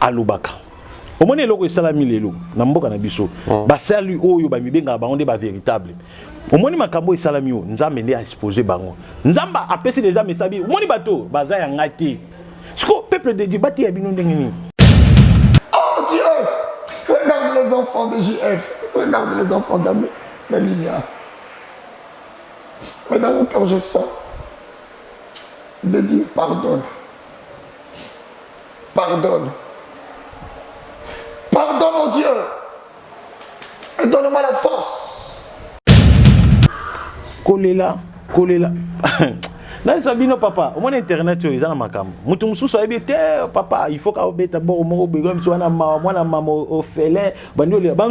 alobaka omoni eloko esalami lelo na mboka na biso mm. basali oyo bamibengaka bango nde bavéritable omoni makambo esalami oyo nzambe nde aexpose bango nzambe apesi deja mesabi omoni bato baza ya ngai te siko peuple de dieu bateya bino ndenge nini oh dieu regarde les enfants de jf regarde les enfants d'amour la lilia mais dans mon cœur je sens de dire pardonne Pardonne. Pardonne, mon Dieu. Et donne-moi la force. Kolela, kolela. nalisa bino papa omoni internet oyo eza na makambo moto mosusu ayebi te papa il faut kaobeta boko moko bego miso wana mawa mwana mama ofele bandi olela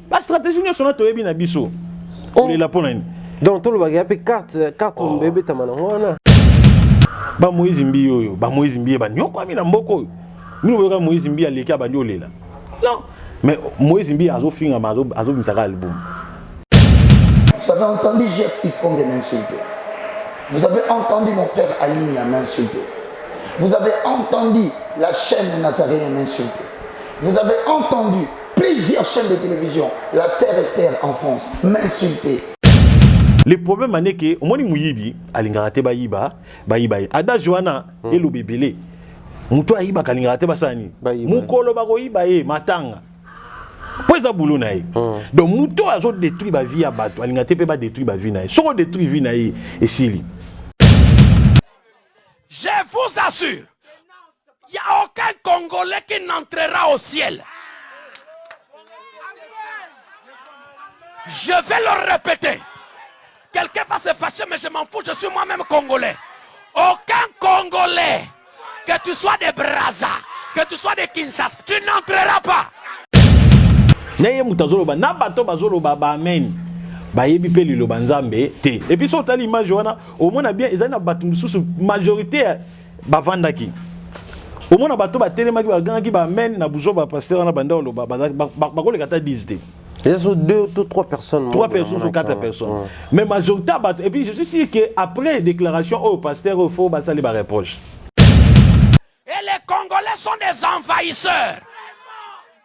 ba stratégie nyonso na toyebi na biso oh. olela mpo na nini donc tolobaka ya mpe carte carte oh. ebetama nango wana ba moïse mbi oyo ba moïse mbi banyokwami na mboka oyo mino boyoka moïse mbi aleki abandi olela non mais moïse mbi azofingama azobimisaka album Vous avez entendu Jeff Ifong m'insulter. Vous avez entendu mon frère Aline m'insulter. Vous avez entendu la chaîne Nazarene m'insulter. Vous avez entendu Plusieurs chaînes de télévision, la sœur Esther en France, m'insultait. le problème ane ke omoni moyibi alingaka te bayiba bayiba ye adage wana hmm. eloba ebele moto ayibaka alingaka te basala nini mokolo bakoyiba ye matanga mpo eza bulo na ye hmm. donc moto oyo azodétruire bavie ya bato alinga te mpe badétruire bavie na ye soki odétruire vie na ye esili je vous assure Il n'y a aucun Congolais qui n'entrera au ciel. Je vais le répéter. Quelqu'un va se fâcher, mais je m'en fous, je suis moi-même Congolais. Aucun Congolais, que tu sois des Brazza, que tu sois des Kinshasa, tu n'entreras pas. Neye mutazoloba, na bato bazoloba, ba amen. bayebi mpe liloba nzambe te epuis so otali image wana omona bien ezali na bato mosusu majorité bavandaki omona bato batelemaki bagangaki ba amen na buzoba pasteur wana banda oloba bakoleka ata 10 te Ils deux ou trois personnes. Trois personnes ou quatre personnes. Ouais. Mais majorité, et puis je suis sûr qu'après déclaration au pasteur, il faut passer les reproches. Et les Congolais sont des envahisseurs.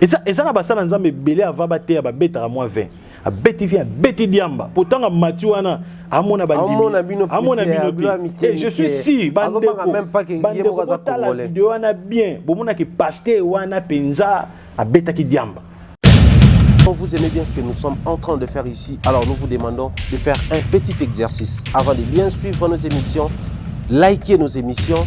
eza eza na basala nzambe ebele ava bateya babetaka mwa 20 abeti via abeti diamba potanga mati wana amona bandimiamona bino te eh, je suis si bandekobandekobotala video wana bien bomonaki paste wana mpenza abetaki diamba Quand vous aimez bien ce que nous sommes en train de faire ici, alors nous vous demandons de faire un petit exercice. Avant de bien suivre nos émissions, likez nos émissions,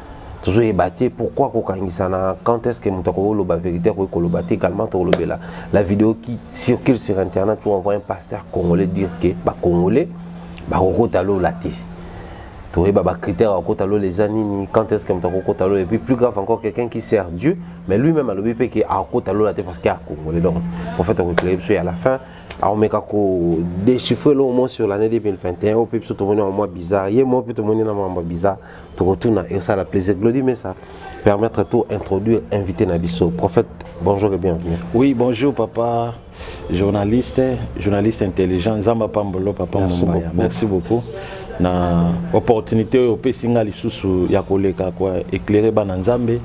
tozo yeba te pourquoi kokangisa na quand est-ce que moto akoki koloba vérité akoki koloba te également tokolobela la vidéo qui circule sur internet où on voit un pasteur congolais dire que bacongolais bakokota lola te toyeba bacritère akokota lola eza nini quand est-ce que moto akokota lola et puis plus grave encore quelqu'un qui sert dieu mais lui-même alobi mpe ke akokota lola te parce que acongolais donc prophète akoeklere biso ya la fin aomeka kodéchiffre eloko moko sur l'année 2021 oyo mpe biso tomoni yango mwa bizarre ye moko mpe tomoni na mambo bizarre tokotuna la plaisir glodi mesa permettre to introduire invité na biso prophète bonjour et bienvenue oui bonjour papa journaliste journaliste intelligent nzambe apambolo papa merci mombaya beaucoup. merci beaucoup na opportunité oyo opesi nga lisusu ya koleka kwa éclairer bana nzambe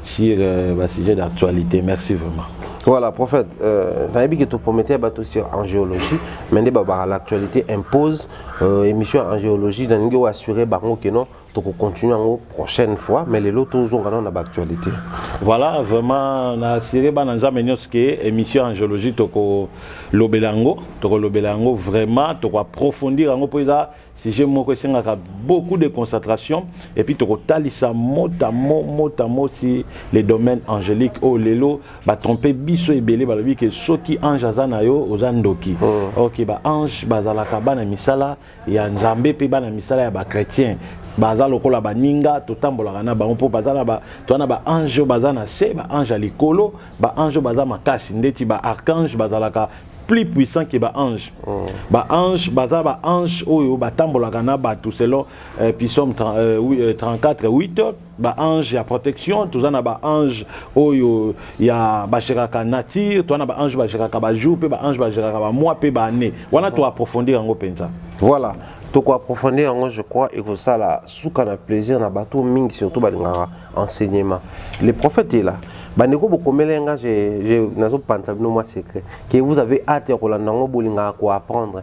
sur euh, ba sujet d'actualité merci vraiment voilà prophète euh, nayebi ke topromete ya bato sur en géologie mais nde babaka l'actualité impose euh, émission ya angiologie nalingi oassure bango ke non tokocontinue yango prochaine fois mais lelo tozonga nano na baactualité voilà vraiment na assure bana nzambe nyonso ke émission ya angiologie tokolobela yango tokolobela yango vraiment tokoaprofondir yango mpo eza sujet moko esengaka beaucoup de concentration et puis tokotalisa motamo motamo si les domaines angéliques oyo oh, lelo ba trompe biso ebele balobi ke soki ange aza na yo oza ndoki mm. ok ba ange bazalaka bana misala ya nzambe mpe bana misala ya bachrétien baza lokola baninga totambolaka na bango mpo baza toza na baange oyo baza na se baange ya likolo baange oyo baza makasi ndeti baarchange bazalaka plus puissant que ba ange oh. ba ange baza ba ange oyo batambolaka na bato selon euh, pisome euh, oui, euh, 34 8 ba ange ya protection toza na ba ange oyo ya bageraka nature toza na ba ange bageraka bajour mpe ba ange bageraka bamoi mpe baannée wana to approfondir yango mpenza voilà toko approfondir yango je crois ekosala suka na plaisir na bato mingi surtout balingaka enseignement le prophète est là bandeko bokomela ye nga nazopanisa bino mwa secret que vous avez hâte ya kolanda yango bolingaka koapprendre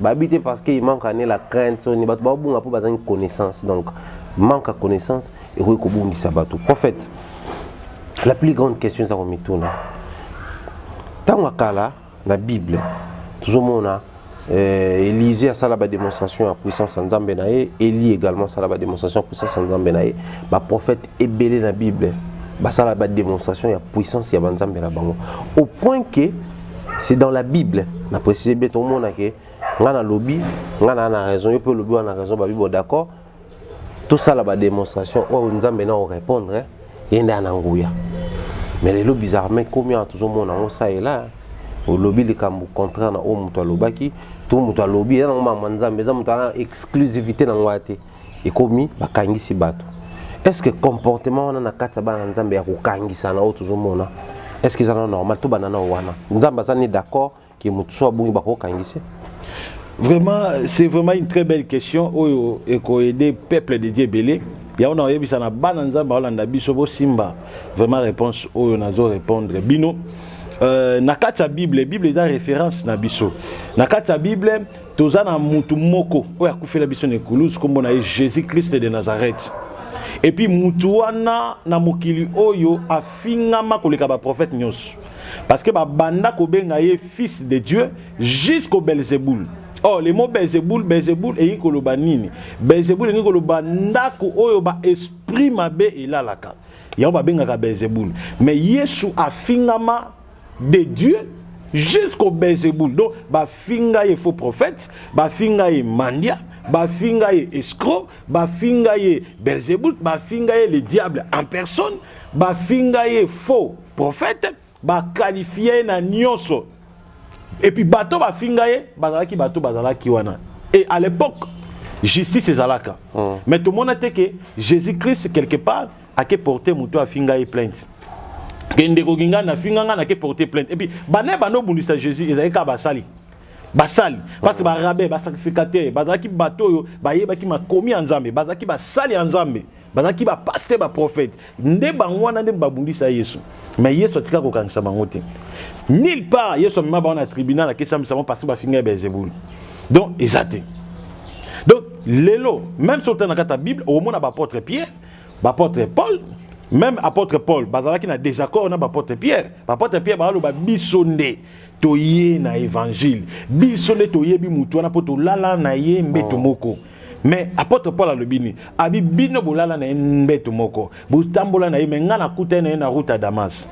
bayebi te parce que il manque ane la crainte soni bato babunga mpo bazangi connaissance donc manque ya connaissance ekoki kobungisa bato prophète la plus grande question eza komituna ntango ya kala na bible tozomona euh, élise asala badémonstration ya puissance ya nzambe na ye elie également asala badémonstration ya puissance ya nzambe na ye baprophète ebele na bible basala badémonstration ya puissance ya banzambe na bango au point que c'est dans la bible na précise bien tokomona ke ngai nalobi ngai naa na raison yo mpe olobi wana na raison babibo d'accord tosala badémonstration oyo nzambe na orépondre eh, ye nde ana nguya mais lelo bizarrement ekomi awa tozomona yango salela eh. olobi likambo contraire na oyo moto alobaki to moto alobi eza nango mama nzambe eza moto ana exclusivité na ngai te ekomi bakangisi bato est ce que comportement wana na kati ya bana nzambe ya kokangisana oyo tozomona est ce que eza na normal tobanda na wana nzambe aza ni d'accord ke moto so abungi bakokangise vraiment c'est vraiment une très belle question oyo ekoaide peuple de dieu ebele yango nakoyebisa na bana nzambe aolanda biso bosimba vraiment réponse oyo nazo répondre bino euh, na kati ya bible bible eza référence na biso na kati ya bible toza na mutu moko oyo akufela biso na ekulusu nkombo na ye jésus christ de nazareth epuis mutu wana na mokili oyo afingama koleka baprofete nyonso parce que babanda kobenga ye fils de dieu jusqu'au belzebul or oh, le mot belzebul belzebul elingi koloba nini belzebul elingi koloba ndako oyo baesprit mabe elalaka yango babengaka belzebul mais yesu afingama de Dieu jusqu'au Belzebul. Donc, bafinga ye faux prophète, bafinga ye mandia, bafinga ye escroc, bafinga ye Belzebul, bafinga ye le diable en personne, bafinga ye faux prophète, bakalifia ye na nyonso. Et puis bato bafinga ye bazalaki bato bazalaki wana. Et à l'époque, justice ezalaka. Mm. Mais tout le monde a dit que Jésus-Christ quelque part ake porte moto afinga ye plainte ke ndeko ginga na finga nga nake porte plainte epuis bana ye banda obundisa jésus ezalaki kaka basali basali parce barabe basacrificateur bazalaki bato oyo bayebaki makomi ya nzambe bazalaki basali ya nzambe bazalaki bapaste baprofete nde bango wana nde babundisa yesu mais yesu atika kokangisa bango te nil part yesu amema bango na tribunal akesamisa bango parce bafinga ya belzebulu donc eza te donc lelo même soki otala na kati ya bible okomona baapôtre pierre B'apotre Paul meme apotre Paul bazalaki na désaccord na b'apotre Pierre. B'apotre Pierre baloba biso nde toye na évangile, biso nde toyebi motu wana mpo tolala na ye mbeto oh. moko mais apotre paul alobi nini abi bino bolala na ye mbeto moko botambola na ye me ngai nakutani na ye na route ya damas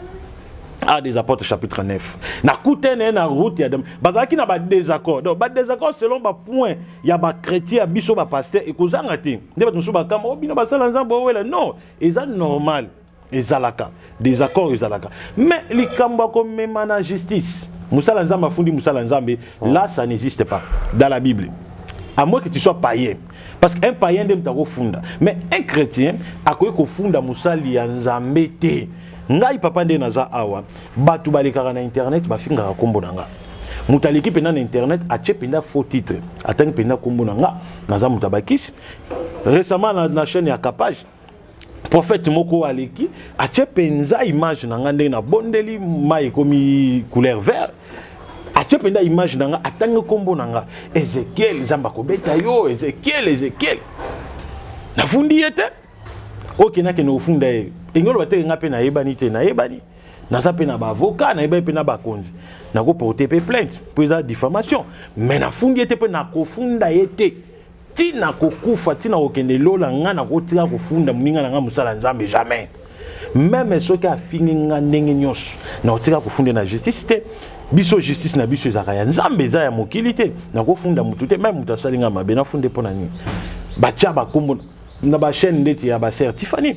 a des apôtres chapitre 9 nakutani na ye na route ya damas bazalaki na badésaccord donc badésaccord selon bapoint ya bachrétien ya biso bapasteur ekozanga te nde bato mosusu bakamba o oh, bino basala nzambe owela non eza normal ezalaka désaccord ezalaka mais likambo ya komema na justice mosala nzambe afundi mosala nzambe oh. là ça n'existe pas dans la bible à moins que tu sois païen parce qu'un païen nde moto akofunda mais un chrétien akoki kofunda mosali ya nzambe te ngai papa nde naza awa bato balekaka na internet bafingaka nkombo na ngai moto aleki mpenza na internet atie mpenza faux titre atangi mpenza nkombo na ngai naza moto ya bakisi récemment na, na chaîne ya capage prophète moko aleki atie mpenza image na ngai ndenge nabondeli mai ekomi couleur vert atie mpenza image na ngai atangi nkombo na ngai ezekiel nzambe akobeta yo ezekiel ezekiel nafundi ye te okendakende kofunda ye engoloba te ngai mpe nayebani te nayebani naza mpe na baavoka nayebaki mpe na bakonzi nakoporte mpe plainte mpo eza diffamation me nafundi ye te mpe nakofunda ye te ti nakokufa ti nakokende lola ngai nakotika kofunda moninga na ngai mosala nzambe jamais meme soki afingi ngai ndenge nyonso nakotika kofunda na justice te biso justice na biso ezalaka ya nzambe eza ya mokili te nakofunda motu te meme moto asali ngai mabe nafunde mpo na nini batya bakombo na bachaîne ndeti ya baser tifani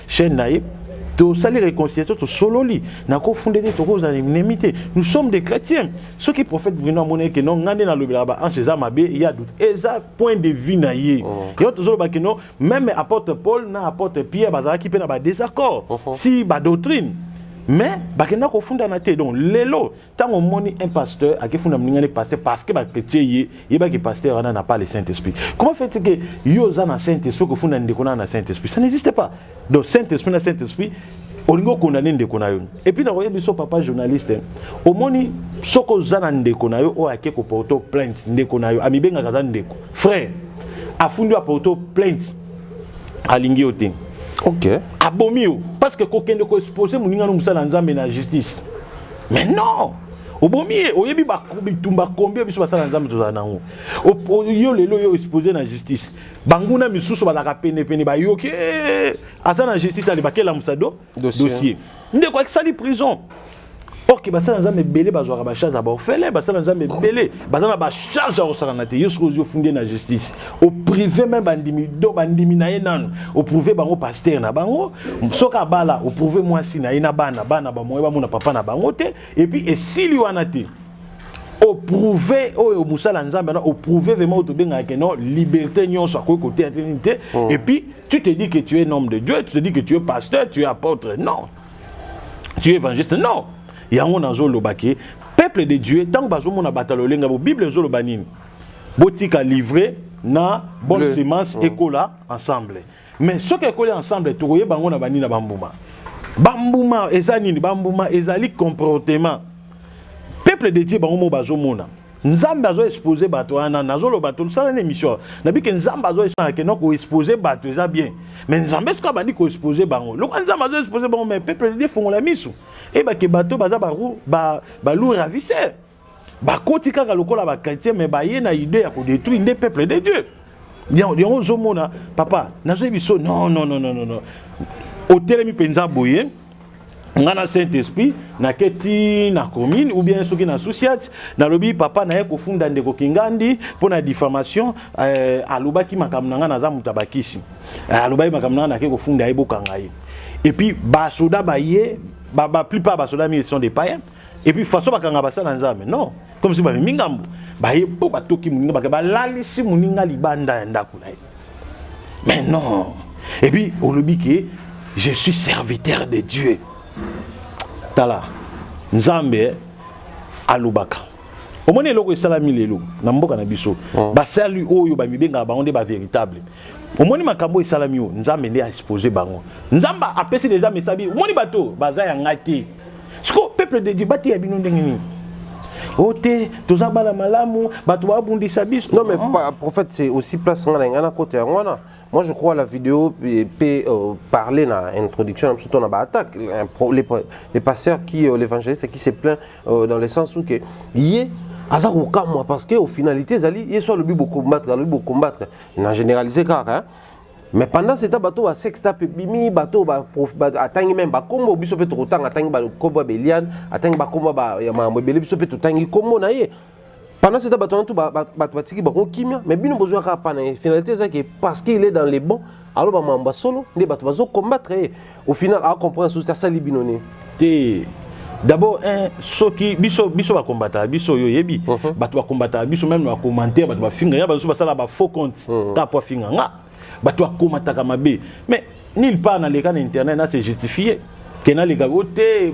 chaîne na ye tosali réconciliation tosololi nakofunda te tokozala enemi te nous sommes des chrétiens soki prophète bruno amonaki keno ngai nde nalobelaka baanse eza mabe ya doute eza point de vue na ye oh. yango tozoloba keno meme apôtre paul na apôtre pierre bazalaki mpe na badésaccord oh, oh. si badoctrine mais bakenda kofundana te donc lelo ntango omoni un pasteur akifuna moninga ne pasteur parce que bakretie ye yeba ke pasteur wana na pas le saint esprit comment fait que yo oza na saint esprit okofunda ndeko na na saint esprit ça n'existe pas donc saint esprit na saint esprit olingi okondane ndeko na yo epuis nakoyebi biso papa journaliste omoni soki oza na ndeko na yo oyo ake koporte plainte ndeko na yo amibengaka aza ndeko frère afundi aporte plainte alingi yo te okay. abomi yo parce que kokende koexpose moninga no mosala nzambe na justice mais non obomi ye oyebi bitumba kombi biso basala na nzambe tozala nango yo lelo yo expose na justice banguna misusu bazalaka penepene bayoki eh, aza na justice ale bakelamusa do dossier ndeko akisali prison orke basala nzambe ebele bazwaka bacharge ya baofele basala nzambe ebele baza na bacharge ya kosakana te yo soki ozwi ofundi ye na justice oprouve me bandimi do bandimi na ye nanu oprouve bango paster na bango soki abala oprouve mwasi na ye na bana bana bamoye bamona papa na bango te epuis esili wana te oprouve oyo mosala ya nzambe wana oprouve vraiment oyo tobengaka ke non liberté nyonso akoki koteya te nini te oh. epuis tu te dis que tu es homme de dieu tu te dis que tu es pasteur tu es apôtre non tu es évangéliste non yango nazoloba ke peuple de dieu ntango bazomona bato ya lolenga bo bible ezoloba nini botika livre na bonne Le. semence oh. ekola ensemble mais soki ekoli ensemble tokoyeba yango na bani na bambuma bambuma eza nini bambuma ezali comportement peuple de dieu bango moko bazomona nzambe azo expose bato wana nazoloba tosala na émission nabike nzambe azo esanake no koexpose bato eza bien me nzambe soki abandi koexpose bango lokola nzambe azo expose bango me peuple de dieu fongola miso eyebake bato baza balou ravisseur bakoti kaka lokola bachrétien me baye na idée ya kodétruire nde peuple de dieu yango ozomona papa nazoyi biso non non non non non otelemi mpenza boye ngai na saint esprit nake ti na commune ou bien soki na susiat nalobi papa naye kofunda ndeko kingandi mpo na diffamation eh, alobaki makambo na ngai naza moto ya bakisi eh, alobaki makambo na ngai nake kofunda ye bokanga ye epuis basoda baye ba, ba plupart basoda mingi sont des païens et puis façon bakanga basala nzambe non comme si bamemi ngambo baye mpo batoki moninga bake balalisi moninga libanda ya ndako na ye mais non et puis olobi ke je suis serviteur de dieu tala nzambe alobaka omoni eloko esalami lelo na mboka na biso oh. basali oyo bamibengaka bango nde bavéritable omoni makambo esalami oyo nzambe nde aexpose bango nzambe apesi deja mesabi omoni bato baza ya ngai te siko peuple de dieu bateya bino ndenge nini o te toza bana malamu bato babundisa biso non mais ah. prophète c'est aussi place ngai na ngai na kota yango wana Moi, je crois la vidéo peut euh, parler dans l'introduction, surtout dans l'attaque. Les, les pasteurs qui, euh, l'évangéliste qui se plaint euh, dans le sens où que, y est, aza kokamwa parce que au finalité ezali ye so alobi bokombattre alobi bokombattre na généralise kaka hein? mais pendant ce temps bato ba sextap ebimi bato atangi meme bakombo biso mpe tokotanga atangi bakombo ya beliane atangi bakombo ya makambo ebele biso mpe totangi kombo na ye pendant ce temps bato wana tu bato batiki bango kimia mais bino bozwa kaka pana ye finalité ezaki parce qu'il est dans les bons aloba makambo ya solo nde bato bazo combattre ye au final a comprendre sous ta sali binone te d'abord un soki biso biso ba combattre biso yo yebi uh -huh. bato ba combattre biso même na commentaire bato ba finga ya bazo basala ba faux compte uh -huh. ta po finga nga bato ba combataka mabe mais nulle part na leka na internet na se justifier kena leka o te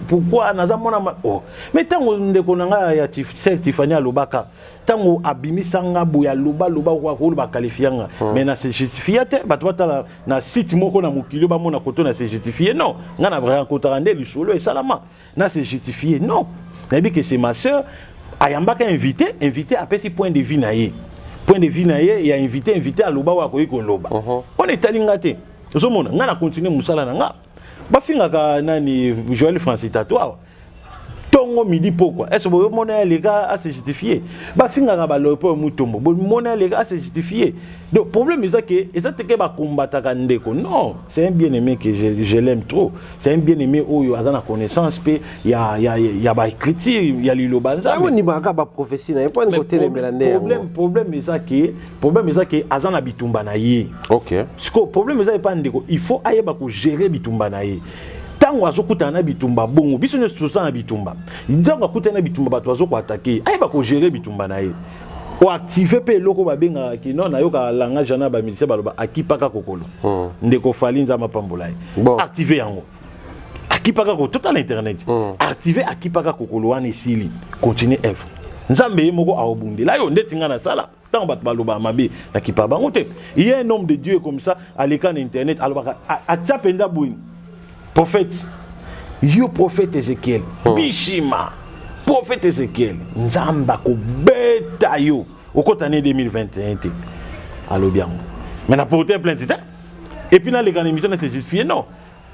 pourquoi naza mwana ma oh. mais ntango ndeko na ngai ya sel tifani alobaka ntango abimisa nga boye aloba loba okoloba kalifia nga mais na se justifia te bato batala na site moko na mokili oyo bamona koto na se justifier non ngai na racontaka nde lisolo esalama na se justifier non nayebi ke se ma sœur ayambaka invité invité apesi point de vue na ye point de vue na ye ya invité invité aloba oyo akoki koloba uh-huh. wana etali ngai te ozomona ngai na continue mosala na ngai bafingaka nani joel francis tato awa tongo midi pokwa est ce que bomona ya leka a se justifier bafingaka baloyo mpo ya mutombo bomona ya leka a se justifier donc problème eza ke eza teke bakombataka ndeko non c'est un bien aimé que je, je l'aime trop c'est un bien aimé oyo aza na connaissance mpe ya, ya, ya baécriture ya liloba nzambeondimaka baprophétie na ye mpo ani kotelemela nde problème problème eza ke problème eza ke aza na bitumba na ye ok sikoyo problème eza epa ndeko il faut ayeba kogere bitumba na ye ntango azokutana na bitumba bongo biso nyonso toza na bitumba ntango akutani na bitumba bato bazokoatake ayeba kogere bitumba na ye oactive mpe eloko babengaka kino nayoka langage wana bamilisien baloba akipaka kokolo hmm. ndeko fali nzambe apambola ye active yango akipaka ko totala internet hmm. active akipaka kokolo wana esili continue evre nzambe ye moko aobundela yo ndeti ngai nasala ntango bato balobaka mabe na kipa bango te ye un homme de dieu comme ça aleka na internet alobaka atya mpenza boye prophète yo prophète ezekiel hmm. bishima prophète ezekiel nzambe akobeta yo okota ne 2021 te alobi yango mai na porte plainte te epuis naleka na émission na se justifie non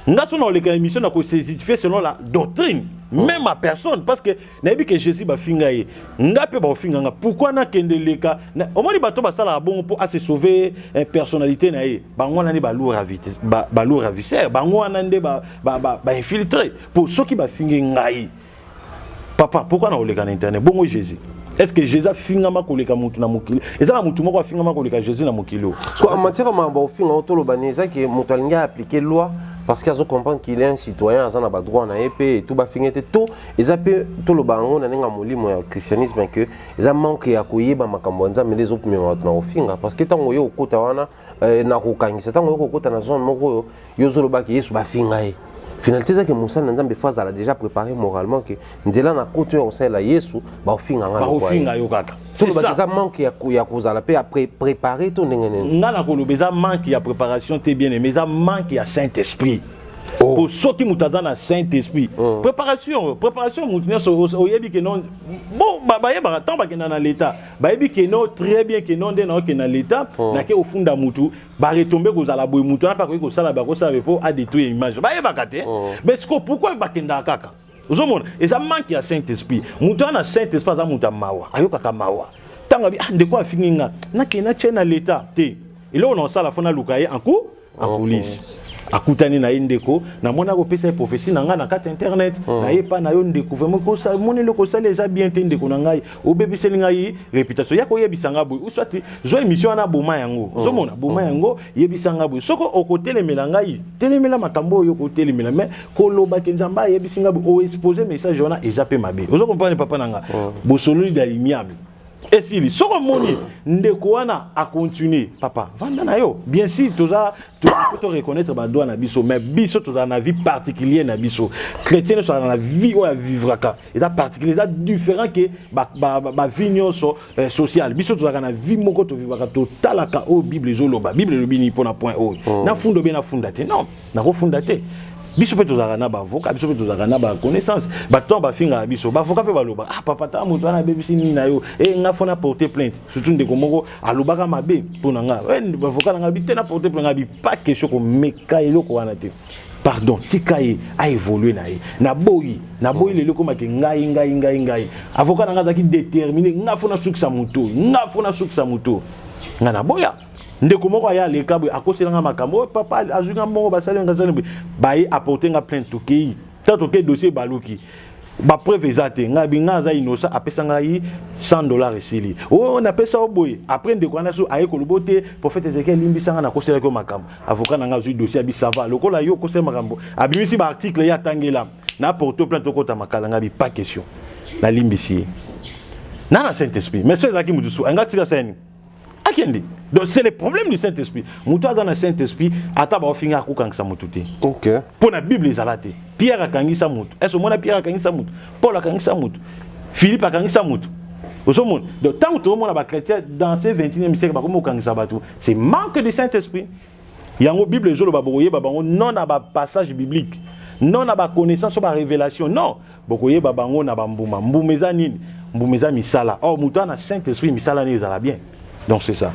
nga so naoleka émission na kosesifie selon la doctrine oh. même ma personne parce que nayebi ke jésus bafinga ye nga mpe baofinga nga pourquoi nakende leka omoni bato basalaka bongo mpo ase sauve eh, personnalité na ye bango wana nde balour ravisseur bango wana nde bainfiltre mpo soki bafinge ngai papa pourquoi nakoleka na internet bongo jésus est ce que jésus afingama koleka motu na mokili eza na motu moko afingama koleka jésus na mokili oyo en matière ya makambo ofinga o toloba nini eza ke moto alingi aappliquer loi parce que azo comprendre qu'il est un citoyen aza na badroit na ye mpe etu bafinge te to eza mpe toloba yango na ndenge ya molimo ya christianisme ke eza manque ya koyeba makambo ya nzambe nde ezopimema bato na kofinga parce que ntango oye okota wana eh, na kokangisa ntango yo kokota na zone moko oyo yo ozolobaki yesu bafinga ye finalité ezaki mosala na nzambe fo azala déjà préparé moralement ke nzela na koti oyo akosalela yesu bakofinga nga bakofinga yo kaka tolobaki eza manque ya kozala mpe ya préparé to ndenge nini nga nakoloba eza manque ya préparation te bien aimé eza manque ya saint esprit oh. po soki moto aza na saint esprit oh. préparation préparation moto nyonso oyebi ke non bo bayebaka ntango bakenda na l'état bayebi ke no très bien ke no nde naoke na leta oh. nake ofunda mutu baretombe kozala boye mutu wana mpe akoki kosala bakosala mpo adetruire image bayebaka te oh. mais siko pourkoi bakendaka kaka ozomona eza manque ya saint esprit moto wana na saint esprit aza moto ya mawa ayokaka mawa ntango abi ah, ndeko afingi nga nakende natye na leta te eloko na kosala fo naluka ye anku en oh, coulisses akutani na ye ndeko namoni akopesa ye prophesie na ngai na kati internet oh. na ye epai na yo ndeko vraimen moni eloko osali eza bien te ndeko na ngai obebiseli ngai reputation ya koyebisa ngai boye uswati zwa émission wana boma yango oh. ozomona boma oh. yango yebisa ngai boye soko okotelemela ngai telemela makambo oyo okotelemela mais koloba ke nzambe ayebisi ngai boye oexpose message wana eza mpe mabe ozo comprendre papa na ngai bosololi da l'imiable esili soki omoni ndeko wana acontinue papa vanda na yo bien sûr toza to reconnaître badroit na biso mais biso tozala na vie particulier na biso chrétien nyonso azala na vie oyo avivraka eza particulier eza différent ke bavie nyonso eh, sociale biso tozalaka na vie moko tovivraka totalaka oyo bible ezoloba bible elobi nini mpo na point oyo oh. nafunda obe nafunda te non nakofunda te biso mpe tozalaka na baavoka biso mpe tozalaka na baconnaissance bato ntango bafingaka biso baavoka mpe baloba ah papa ta moto wana abebisi nini na yo e eh, nga fo na porte plainte surtout ndeko moko alobaka mabe mpo na nga eh, bavoka na nga bi te na porte plainte nga bi pas question komeka eloko wana te pardon tika ye aévolue na ye naboyi naboyi lelo ekomaki ngai ngai ngai ngai avoka na nga azalaki détermine nga fo nasukisa moto nga fo nasukisa moto nga naboya ndeko moko aya aleka boye akosela nga makambo oyo papa azwi nga mbongo basali nga sali boye baye apporte nga plainte tokei ta tokei dossier ebaluki bapreuve eza te ngai bi ngai aza innocent apesa ngai 100 dollar esili oyo oh, oh, napesa yo boye après ndeko wana so aye kolobo te prophète ezekiel limbisa ngai nakoselaki yo makambo avocat na ngai azwi dossier abi sava lokola yo okoseli makambo abimisi baarticle ye atangela na porto plainte okota makala ngai bi pas question nalimbisi ye na na saint esprit mais so ezalaki motu so ngai tika sani akende donc c'est le problème du Saint-Esprit moto aza na Saint-Esprit ata baofinga akokangisa moto te okay. mpo na bible ezala te pierre akangisa moto est ce omona pierre akangisa moto paul akangisa moto philippe akangisa moto ozomona donc ntango tozomona bachrétien dans ce 21e siècle bakomi kokangisa bato c'est manque du Saint-Esprit yango bible ezoloba bokoyeba bango non na bapassage biblique non na baconnaissance o barévélation non bokoyeba bango na bambuma mbuma eza nini mbuma eza misala or moto ana saint esprit misala nini ezala bien donc c'est ça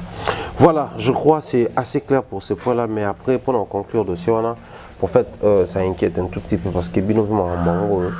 voilà je crois c'est assez clair pour ce point là mais après pour en conclure dossier wana prophète euh, ça inquiète un tout petit peu parce que bino mpe makambo yango oyo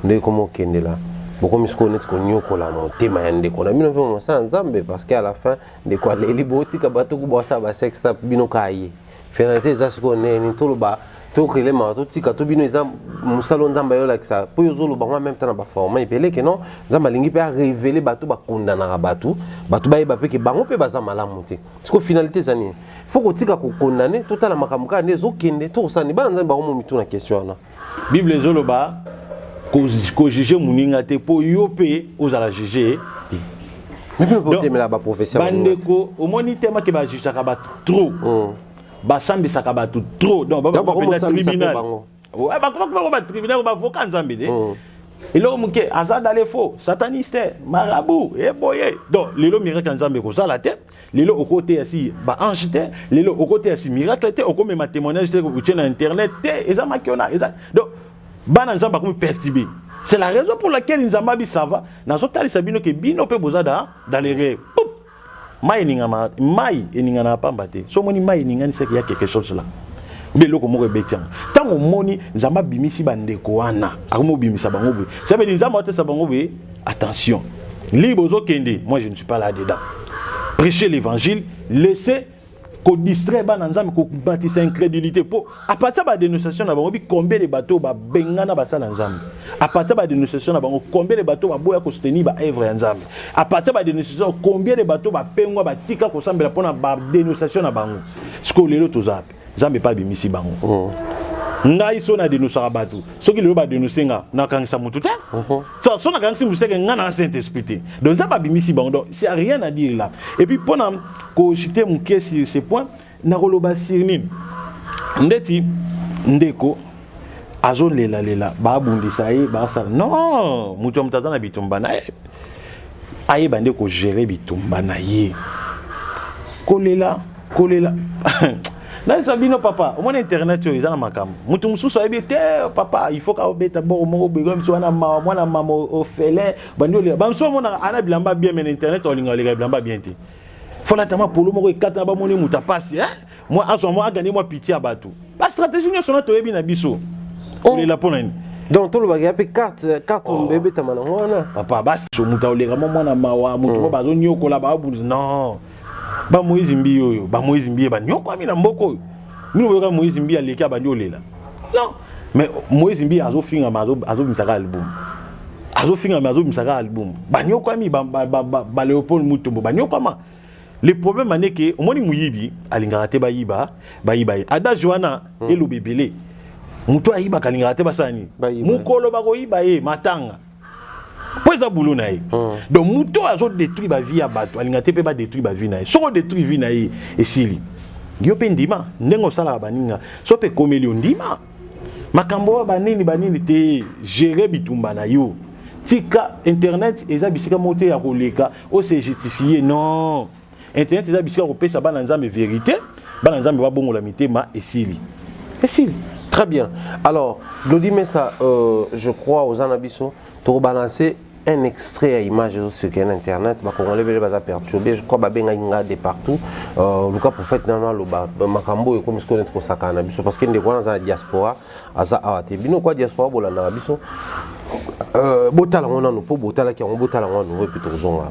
ndenge koma okende la bokomi sikoyo neti konyokola motema ya ndeko na bino mpe mosala nzambe parce que à la fin ndeko aleli botika bato kobwasa ba sex tap bino kaye finalité eza sikoyo neni toloba tokelema totika to bino eza mosala oyo nzambe ayolakisa mpo yo ozoloba ngo meme temps na baforma ebele ke non nzambe alingi mpe arevele bato bakondanaka bato bato bayeba mpe ke bango mpe baza malamu te siko finalité eza nini fo kotika kokondane totala makambo kaka nde ezokende tokosani bana nzambe bango momitu na question wana bible ezoloba kojuge moninga te mpo yo mpe ozala juge bandeko omoni te make bajujaka bato trop oh. basambisaka bato trop donc babakopenza tribunal bakobakobako batribunal bavoka nzambe te oh. eloko moke aza dale fo sataniste marabu eboye donc lelo miracle ya nzambe ekozala te lelo okoteya si ba ange te lelo okoteya si miracle te okomema témoignage te otie na internet te eza makiona eza donc bana nzambe akomi perturbe c'est la raison pour laquelle nzambe abi ça va nazotalisa bino ke bino mpe boza da dans les rêves mai eningama mai eninganaka pamba te so omoni mai eningani seke ya quelque chose là obe eloko moko ebeti yango ntango omoni nzambe abimisi bandeko wana akomi obimisa bango boye sabeli nzambe atesa bango boye Attention. Libre ozo kende, moi je ne suis pas là dedans. Prêcher l'évangile, laisser ko distraire bana nzambe ko batisa incrédulité po à partir ba dénonciation na bango bi combien de bateaux ba bengana ba sala nzambe à partir ba dénonciation na bango combien de bateaux ba boya ko soutenir ba œuvre ya nzambe à partir ba dénonciation combien de bateaux ba pengwa ba tika ko sambela pona ba dénonciation na bango siko lelo tozape nzambe mpe abimisi bango oh. ngai so nadenosaka bato soki lelo badenose nga nakangisa motu te uh-huh. so, so nakangisi motu seke ngai na saint esprit te donc nzambe abimisi bango donc c'est rien à dire là et puis mpo na koshite moke sur ce point nakoloba sur nini ndeti ndeko azolelalela babundisa ye basala non moto ya moto aza na bitumba na ye ayeba nde kogere bitumba na ye kolela kolela nayesa bino papa omoni internet oyo eza na makambo moto mosusu ayebi te papa il faut kaobeta boko moko boyekona biso wana mawa mwana mama ofele bandi olela bamosusu omonaka ana bilamba bien me na internet olinga oleka bilamba bien te folata mwa polo moko ekatana bamoni moto apasi eh? mwa azwa mwa agani mwa piti ya bato bastratégie nyonso na toyebi na biso oh. olela mpo na nini donc tolobaka ya mpe carte carte oh. ebetama nango wana papa basi moto aoleka mwa mwana mawa moto mo hmm. bazoniokola baabunzi non ba moise mbi oyo ba moise mbi ba nyokwami na mboko oyo mino boyoka moise mbi aleki abandi olela non mais moise mbi azofinga ma azobimisa kaka album azofinga ma azobimisa kaka album ba nyokwami ba, ba, ba, ba, ba leopold mutombo ba nyokwama le problème ane ke omoni moyibi alingaka te bayiba bayiba ye adage wana hmm. eloba ebele moto ayibaka alingaka te basala nini mokolo bakoyiba ye matanga mpo eza boulot na ye hmm. donc moto oyo azo détruire bavie ya bato alinga te mpe badétruire bavie na ye soki odétruire vie na ye esili yo mpe ndima ndenge osalaka baninga so mpe ekomeli yo ndima makambo oyo banini banini te gere bitumba na yo tika internet eza bisika moko te ya koleka ose justifie non internet eza bisika kopesa bana nzambe verite bana nzambe babongola mitema esili esili très bien alors glodi mesa euh, je crois oza na biso tokobalancer un extrait ya image ezosirkele na internet bakongole ebele baza perturbe je crois babengaki nga de partout euh, luka prophète nano aloba makambo oyo ekomi sikoyo neti kosakana na biso parce que ndeko wana aza na diaspora aza awa te bino kwa diaspora bolandaka biso euh, botala yango nano mpo botalaki yango botala yango ya nouveau epi tokozonga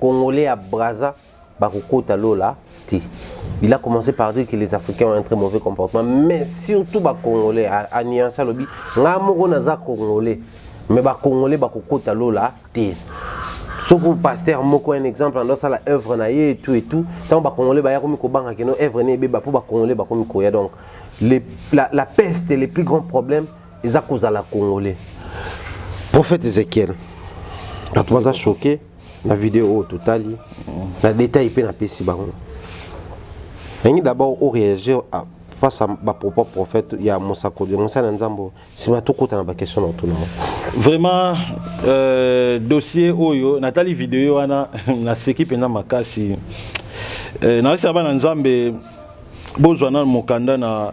Congolais ya Brazza bakokota lola te. Il a commencé par dire que les Africains ont un très mauvais comportement, mais surtout ba Congolais a, a nuance alobi nga moko naza Congolais, mais ba Congolais bakokota lola te. Soko pasteur moko un exemple ando sala œuvre na ye et tout et tout, tant ba Congolais ba yakomi kobanga que no œuvre ne ebeba po ba Congolais bakomi koya donc les, la, la peste les plus grands problèmes eza kozala congolais prophète ezekiel bato baza choke na video oyo totali na détail mpe napesi bango yangi d'abord oréagir face à bapropos prophète ya mosakoli ya mosali na nzambe oyo nsima tokota na baquestion na otuna vraiment euh, dossier oyo natali video wana naseki mpenza makasi euh, nayosa bana nzambe bozwa na mokanda na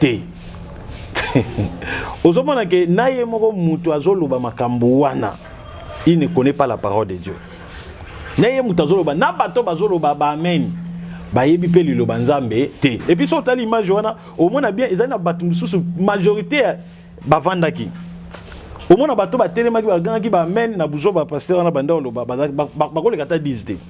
te ozomona ke na ye moko moto azoloba makambo wana il ne connaît pas la parole de dieu na ye moto azoloba na bato bazoloba baamen bayebi mpe liloba nzambe te epuis so otali image wana omona bien ezali na bato mosusu majorité bavandaki omona bato batelemaki bagangaki baamen na buzoba pasteur wana banda oloba bakoleka ata 10 te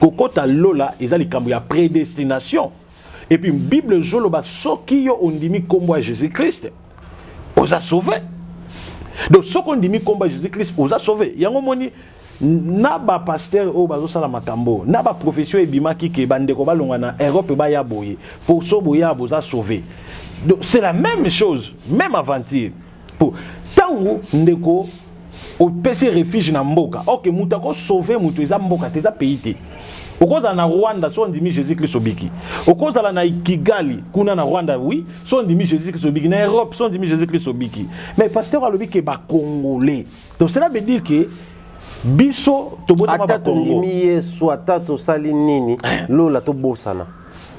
kokota lola eza likambo ya predestination epuis bible ezoloba soki yo ondimi nkombo ya jesus christ oza sauve donc soki ondimi nkombo ya jesus christ oza sauve yango omoni na bapaster oyo bazosala makambo na baprofesio ebimaki ke bandeko balonga na europe baya boye poso boya boza sauve donc c'est la même chose même aventure po tango ndeko opesi refuge na mboka ok moto akosauve moto eza mboka te eza pays te okozala na rwanda so ondimi jésus kristo obiki okozala na kigali kuna na rwanda oui so ondimi jésus kristo obiki na europe so ondimi jésus kristo obiki mais pasteur alobi ke bacongolais donc cela veut dire que biso tobotama bakongo ata tondimi yesu ata tosali nini eh. lola tobosana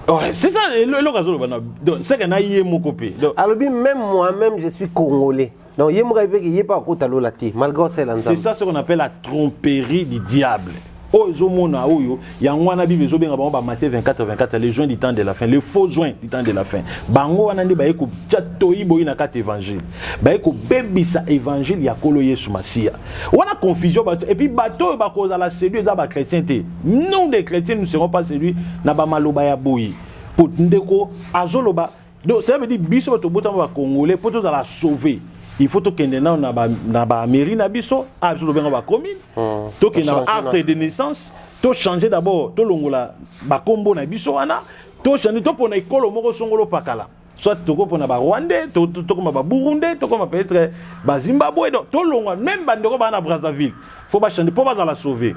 Ouais, c'est ça eloko azoloba na donc c'est que na ye moko pe donc alobi même moi même je suis congolais donc ye moko ayebeki ye mpe akota lola te malgré osala c'est nzambe ça ce qu'on appelle la tromperie du diable oyo ezomona oyo yango wana bible ezobenga bango ba Matthieu 24 24 les joints du temps de la fin les faux joints du temps de la fin bango wana nde baye kotya toyi boyi na kati évangile baye kobebisa évangile ya nkolo yesu masiya wana confusion bato epuis bato oyo bakozala sedu eza bachrétien te Nous des chrétiens nous serons pas séduits na ba maloba ya boye. Po ndeko azoloba donc ça veut dire biso bato botama ba congolais po tozala sauver il faut tokende nano na ba na ba mairie na biso a biso lobenga ba commune hmm. tokende na acte de naissance to changer d'abord tolongola ba kombo na biso wana to changer topona ekolo moko songolo pakala soit toko pona ba rwandais tokoma ba burundais tokoma peut-être ba zimbabwe donc tolongwa même bandeko baa na brazzaville faut bachande mpo bazala sauve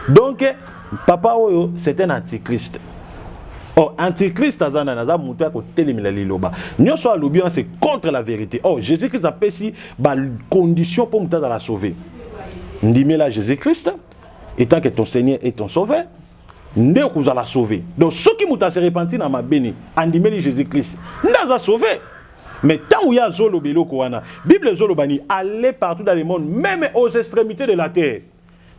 donc papa oyo c'est un antichrist or oh, antichrist aza nani aza moto ya kotelemela liloba nyonso alobi wana c'est contre la vérité or oh, jésus christ apesi bacondition mpo moto azala sauve ndimela jésus christ etant que ton seigneur et ton sauveur nde okozala sauve donc soki moto ase repentir na mabe nini andimeli jésus christ nde aza sauve mais ntango ye azoloba eloko wana bible ezoloba nini aller partout dans le monde meme aux extrémités de la terre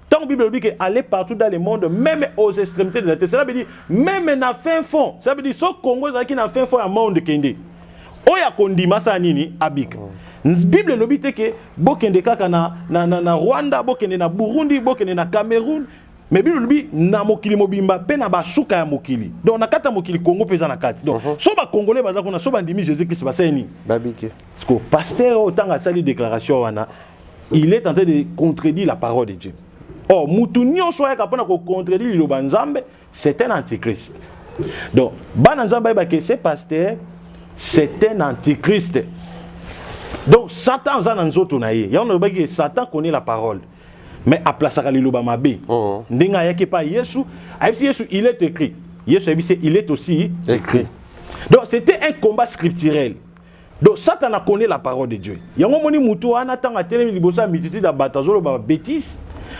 ntango bible elobi ke aller partout dans le monde meme aux extrémités de la terre cela veut dire meme na fin fond cela veut dire so congo ezalaki na fin fond ya monde kende oyo akondima asala nini abika bible elobi te ke bokende kaka na, na, na, na rwanda bokende na burundi bokende na cameroun mais bino lobi na mokili mobimba mpe na basuka ya mokili donc na kati ya mokili kongo mpe eza na kati donc uh -huh. so bakongole baza kuna so bandimi jésus christ basali nini babike siko paster oyo ntango asali déclaration wana il est en train de contredire la parole de dieu or oh, motu nyonso ayaka mpo na kocontredire liloba nzambe c'est un antichrist donc bana nzambe ayebake ce paster c'est un antichrist donc satan aza na nzoto na ye yango nalobaki satan connaît la parole mais aplasaka liloba mabe oh. ndenge ayaki epa yesu ayebisi yesu il est écrit yesu ayebisi il est aussi écrit donc c'était un combat scripturel donc satana connaît la parole de dieu yango omoni motu wana ntango atelemi liboso ya multitude ya bato azoloba babétise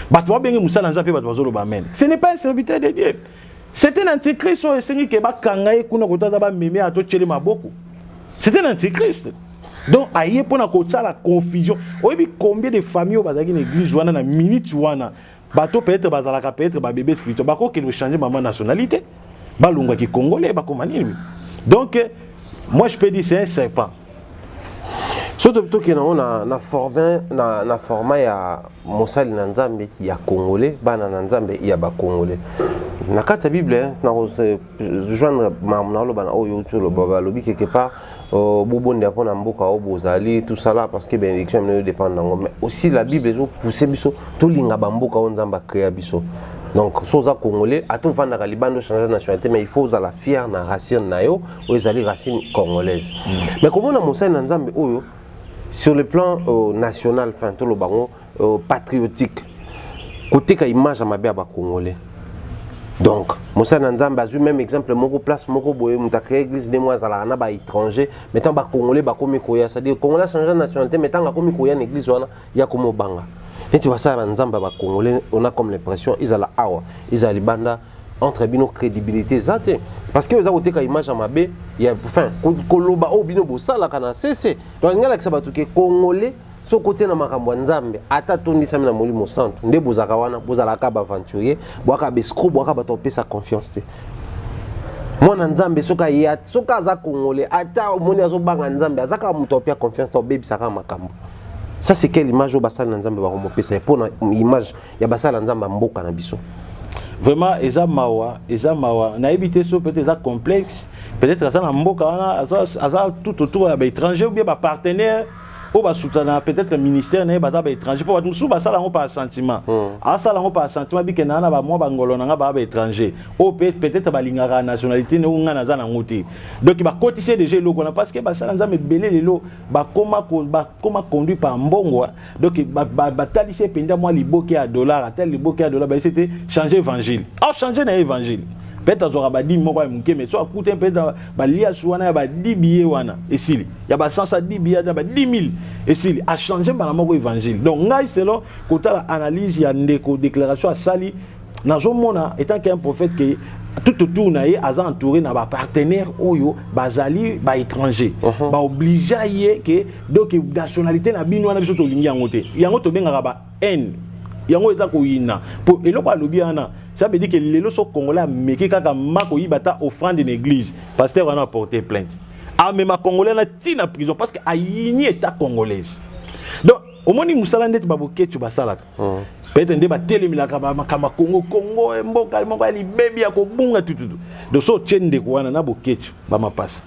bato babenge mosala ya nzambe mpe bato bazoloba meme ce n'est pas un serviteur de dieu c'était na antichrist oyo esengi ke bakanga ye kuna kota aza bameme ato tyele maboko c'était na antichrist donc aye mpo na kosala confusion oyebi combien de famille oyo bazalaki na église wana na minute wana bato peut-être bazalaka peut-être babebe spirituel bakokende ochange mama nationalité balongwa kikongole bakoma nini donc moi je peux dire c'est un serpent soki tokenda yango na, na, forme, na, na forma ya mosali na nzambe ya congolais bana na nzambe ya bacongolais na kati ya bible nakojoindre mamnaloba na oyo outi oloba balobi quelque part Euh, bobonde mpo na mboka oyo bozali tosala parce que bénédiction ya bino edépendre nango mais aussi la bible ezopousse biso tolinga bamboka oyo nzambe akrea biso donc so oza congolais ata ovandaka libanda ochange nationalité mais il faut ozala fier na racine na yo oyo ezali racine congolaise mm. mais komona mosali na nzambe oyo sur le plan euh, national fin toloba yango euh, patriotique kotika image ya mabe ya bacongolais donc mosali na nzambe azwi même exemple moko place moko boye moto acree église nde moko azalaka na baétranger mais ntango bacongolais bakomi koya cestadire congolais achange nationalité mais ntango akomi koya na église wana ya komobanga neti basala na nzambe ya bacongolais ona comme l'impression ezala awa ezala libanda entre bino crédibilité eza te parce que oza koteka image ya mabe ya fin koloba oyo bino bosalaka na sese donc alingi alakisa bato ke congolais soki kotia na makambo ya nzambe ata tondisami na molimo santu nde bozalaka wana bozalaka baaventurier bwaka bescro bwaka bato opesa confiance te mwana nzambe soki aye soki aza kongole ata omoni azobanga nzambe aza kaka moto apia confiance te obebisaka makambo ça c'est quelle image oyo basali na nzambe bakomopesa ye mpo na image ya basali na nzambe ya mboka na biso vraiment eza mawa eza mawa nayebi te so peut-être eza complexe peut-être aza na mboka wana aza tout autour ya baétranger ou bien bapartenaire ba oyo basutana peut-être ministère na ye baza baétranger mpo bato mosusu basala yango par sentiment hmm. asala yango par sentiment bikenda na bamwa bangolo na ngai baa baétranger oyo peut-être balingaka nationalité ne oyo ngai naza nango te donc bakotisi ye déjà eloko wana parce que basala nzambe ebele lelo bakoma bakoma conduit par mbongo donc batalisi ye mpenza mwa liboke ya dollar atali liboke ya dollar bayesi te change évangile au change na ye évangile peut-être azwaka badimi moko ya moke mais so akute peut-être baliasi wana ya badibi ye wana esili ya ba sens à 10 billets ya ba 10000 esili a changer mbala moko évangile donc ngai selon kotala analyse ya ndeko déclaration asali nazomona étant qu'un prophète que tout autour na ye aza entouré na bapartenaire oyo bazali baétranger uh -huh. baobligea ye ke donc nationalité na bino wana biso tolingi yango te yango tobengaka ba haine yango eza koyina mpo eloko alobi wana ça veut dire que lelo so congolais ameki kaka ma koyiba ata offrande na église pasteur wana aporte plainte amema congolais na ti na prison parce que ayini état congolaise donc omoni mosala ndeti baboketio basalaka hmm. peut-être nde batelemelaka makambo ya kongo kongo eh, mboka eh, moko ya libebi ya kobunga tututu donc so otye ndeko wana na boketio bamapasa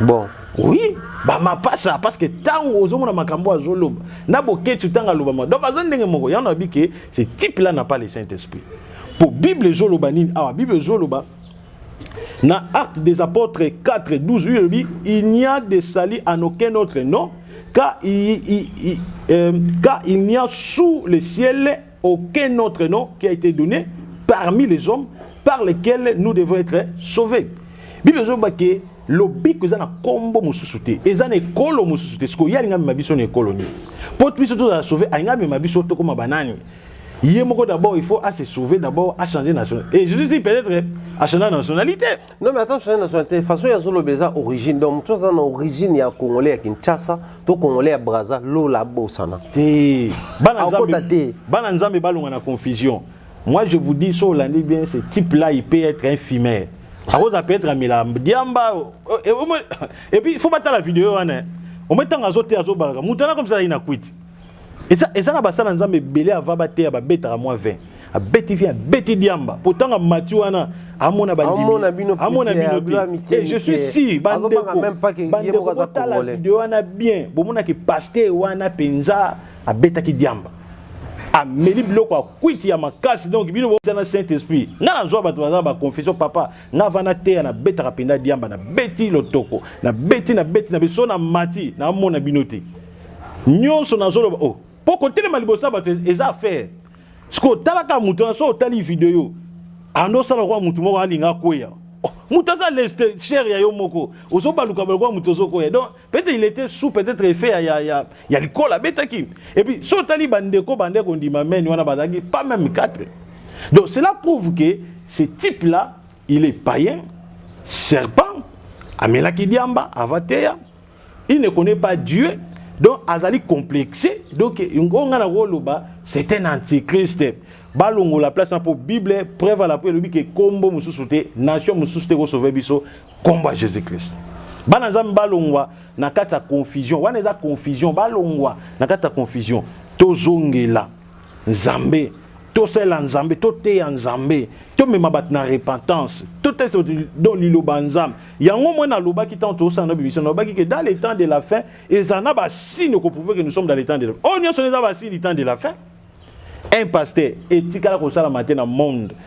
bon oui bamapasa parce que ntango ozomona makambo azoloba na boketio ntango alobama donc aza ndenge moko yango nayebi ke ce type là na pas le saint esprit mpo bible ezoloba nini awa bible ezoloba Na Actes des Apôtres 4, 12, il dit Il n'y a de salut en aucun autre nom, car il, il, il, euh, car il n'y a sous le ciel aucun autre nom qui a été donné parmi les hommes par lequel nous devons être sauvés. Bible ezoba ke lobiko eza na kombo mosusu te eza na ekolo mosusu te sikoyo ye alinga mema biso na ekolo nini mpo biso tozala sauve alinga mema biso tokoma banani ye moko d'abord il faut à se sauver d'abord à changer nation et je dis peut-être à changer nationalité non mais attends changer nationalité façon ya zolo beza origine donc tout ça na origine ya congolais ya Kinshasa to congolais ya Brazza lola bosana te bana nzambe bana nzambe balonga na confusion moi je vous dis sur l'année bien ce type là il peut être un fumeur akoza peut être amela diamba euh, et puis il faut battre la vidéo wana au moins tant azo te azo balaka mutana comme ça il na quit eza eza na basala nzambe ebele ava bateya babetaka mwa 20 abeti vin abeti diamba potanga mati wana amona bandimiamona bino te eh, je suis si bandekobandekobotala video wana bien bomonaki paster wana mpenza abetaki diamba ameli biloko ya kwiti ya makasi donc bino boza na saint esprit nga nazwa bato baza baconfession papa nga va nateya nabetaka mpenza diamba nabeti lotoko nabeti nabeti na biso na mati namona bino te nyonso nazoloba o oh, mpo kotelema liboso ya bato eza affaire sikoyo talaka moto wana so otali video ando osala lokola moto moko alinga akweya oh, moto aza leste chere ya yo moko ozobaluka lokola moto ozokoya donc peut-être il était sous peut-être effet ya, ya, ya, ya likola abetaki epuis so otali bandeko bande kondima meni wana bazalaki pas même 4 donc cela prouve que ce type là il est païen serpent amelaki diamba avateya il ne connaît pas Dieu donc azali complexe donc yango ngai nakoloba c'est un antichrist balongola place na mpo bible preuve ala mpo elobi ke nkombo mosusu te nation mosusu te ekosauve biso nkombo ya jésus christ bana nzambe balongwa na kati ya confusion wana eza confusion balongwa na kati ya confusion tozongela Nzambe tosalela nzambe toteya nzambe tomema bato na repentance totesa bato do liloba nzambe yango moi nalobaki ntango tozosala na bimission nalobaki ke dans le temps de la fin ezala na basini okoprouve ke nous sommes dans le temps de la fin oyo oh, nyonso eza basini temps de la fin un pasteur etikala kosalama te na monde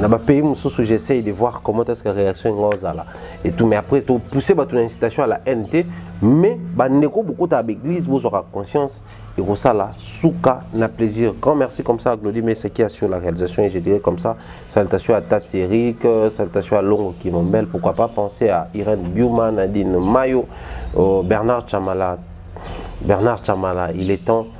na ba pays mosusu j'essaye de voir comment est-ce que réaction yango ozala et tout mais après to pousser bato na incitation à la haine te mais bandeko bokota ba église bozwaka conscience ekosala suka na plaisir grand merci comme ça à Glody Mesa qui assure la réalisation et je dirais comme ça salutation à Tati Eric euh, salutation à Longo Kimombel pourquoi pas penser à Irène Biuma Nadine Mayo euh, Bernard Chamala Bernard Chamala il est temps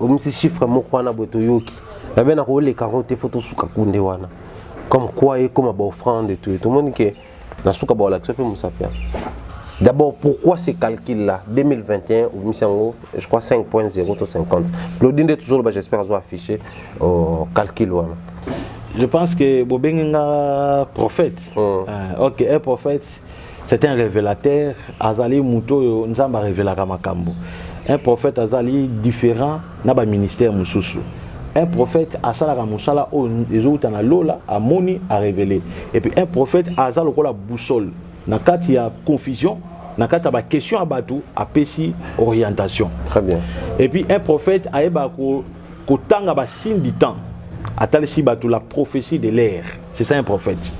omisi chiffre moko wana boye toyoki nabe na koleka yango te fo tosuka kunde wana comme quoi ekoma baoffrande to tomoni ke na suka baolakisa mpe mosapi yango d'abord pourquoi ce calcul là 2021 obimisi yango je crois 5.0 to 50 claudi nde tozoloba j'espère azo affiché euh, calcul wana je pense que bobenge nga prophète hmm. ah, ok un prophète c'est un révélateur azali moto oyo nzambe arevelaka makambo un prophète azali différent na baministère mosusu un prophète asalaka mosala oyo ezowuta na lola amoni arevele epuis un prophète aza lokola boussole na kati ya confusion na kati ya baquestion ya bato apesi orientation très bien epuis un prophète ayebaka kotanga ba signe du temps atalisi bato la prophétie de l'air c'est ça un prophète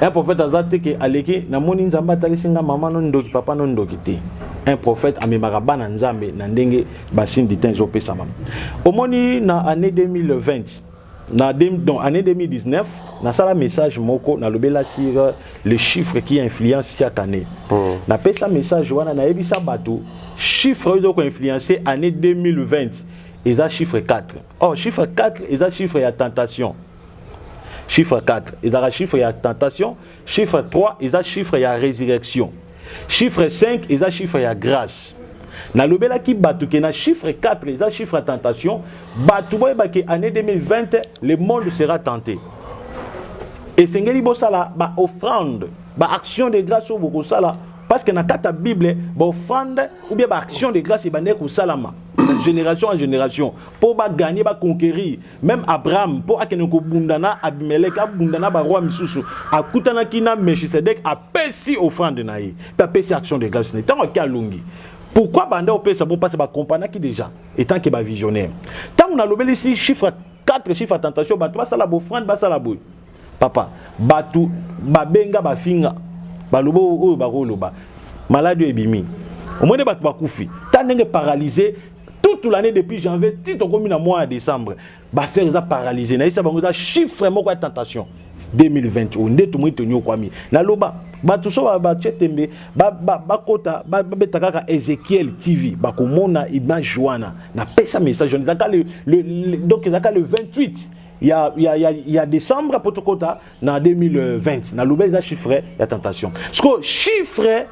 un prophète aza te ke aleki namoni nzambe atalisi nga mama no ndoki papa no ndoki te un prophète amemaka bana nzambe na ndenge basigne du temps ezopesama omoni na année 2020 na donc année 2019 nasala message moko nalobela sur euh, le chiffre qui influence chaque année mm. napesa message wana nayebisa bato chiffre oyo ezokoinfluence année 2020 eza chiffre 4 or chiffre 4 eza chiffre ya tentation chiffre 4 ezalaka chiffre ya tentation chiffre 3 eza chiffre ya résurrection chiffre 5 eza chiffre ya grâce nalobelaki bato ke na chiffre 4 eza chiffre ya tentation bato boyeba ke année 2020 le monde sera tenté esengeli bosala baoffrande baaction de grâce oyo bokosala parce que na kati ya bible baoffrande ou bien baaction de grâce ebandaki kosalama génération en génération mpo baganye baconquérir même abraham mpo akende kobunda na abimelek abunda na baroi misusu akutanaki na melchisedek apesi offrande na ye mpe apesi action de grâce na ye ntango ake alongi pourquoi banda opesa bo mpasi bakompanaki déjà etant ke bavisionnaire ntango nalobelisi chiffre 4 chiffre ya tentation bato basala bofrande basala boye papa batu babenga bafinga baloba oyo bakoloba maladi oyo ebimi omoni bato bakufi ta ndenge paralyse toute l'année depuis janvier ti tokomi na mois ya décembre baaffaire eza paralyse nayesa bango eza chiffre moko ya tentation 2020 oyo nde tomoni tonyokwami naloba bato so batie tembe bakota babeta kaka ezekiel tv bakomona image wana napesa message wana ezaka donc ezaka le 28 ya, ya, ya, ya décembre mpo tokɔta na 2020 naloba eza chiffre ya tentation sikoyo chiffre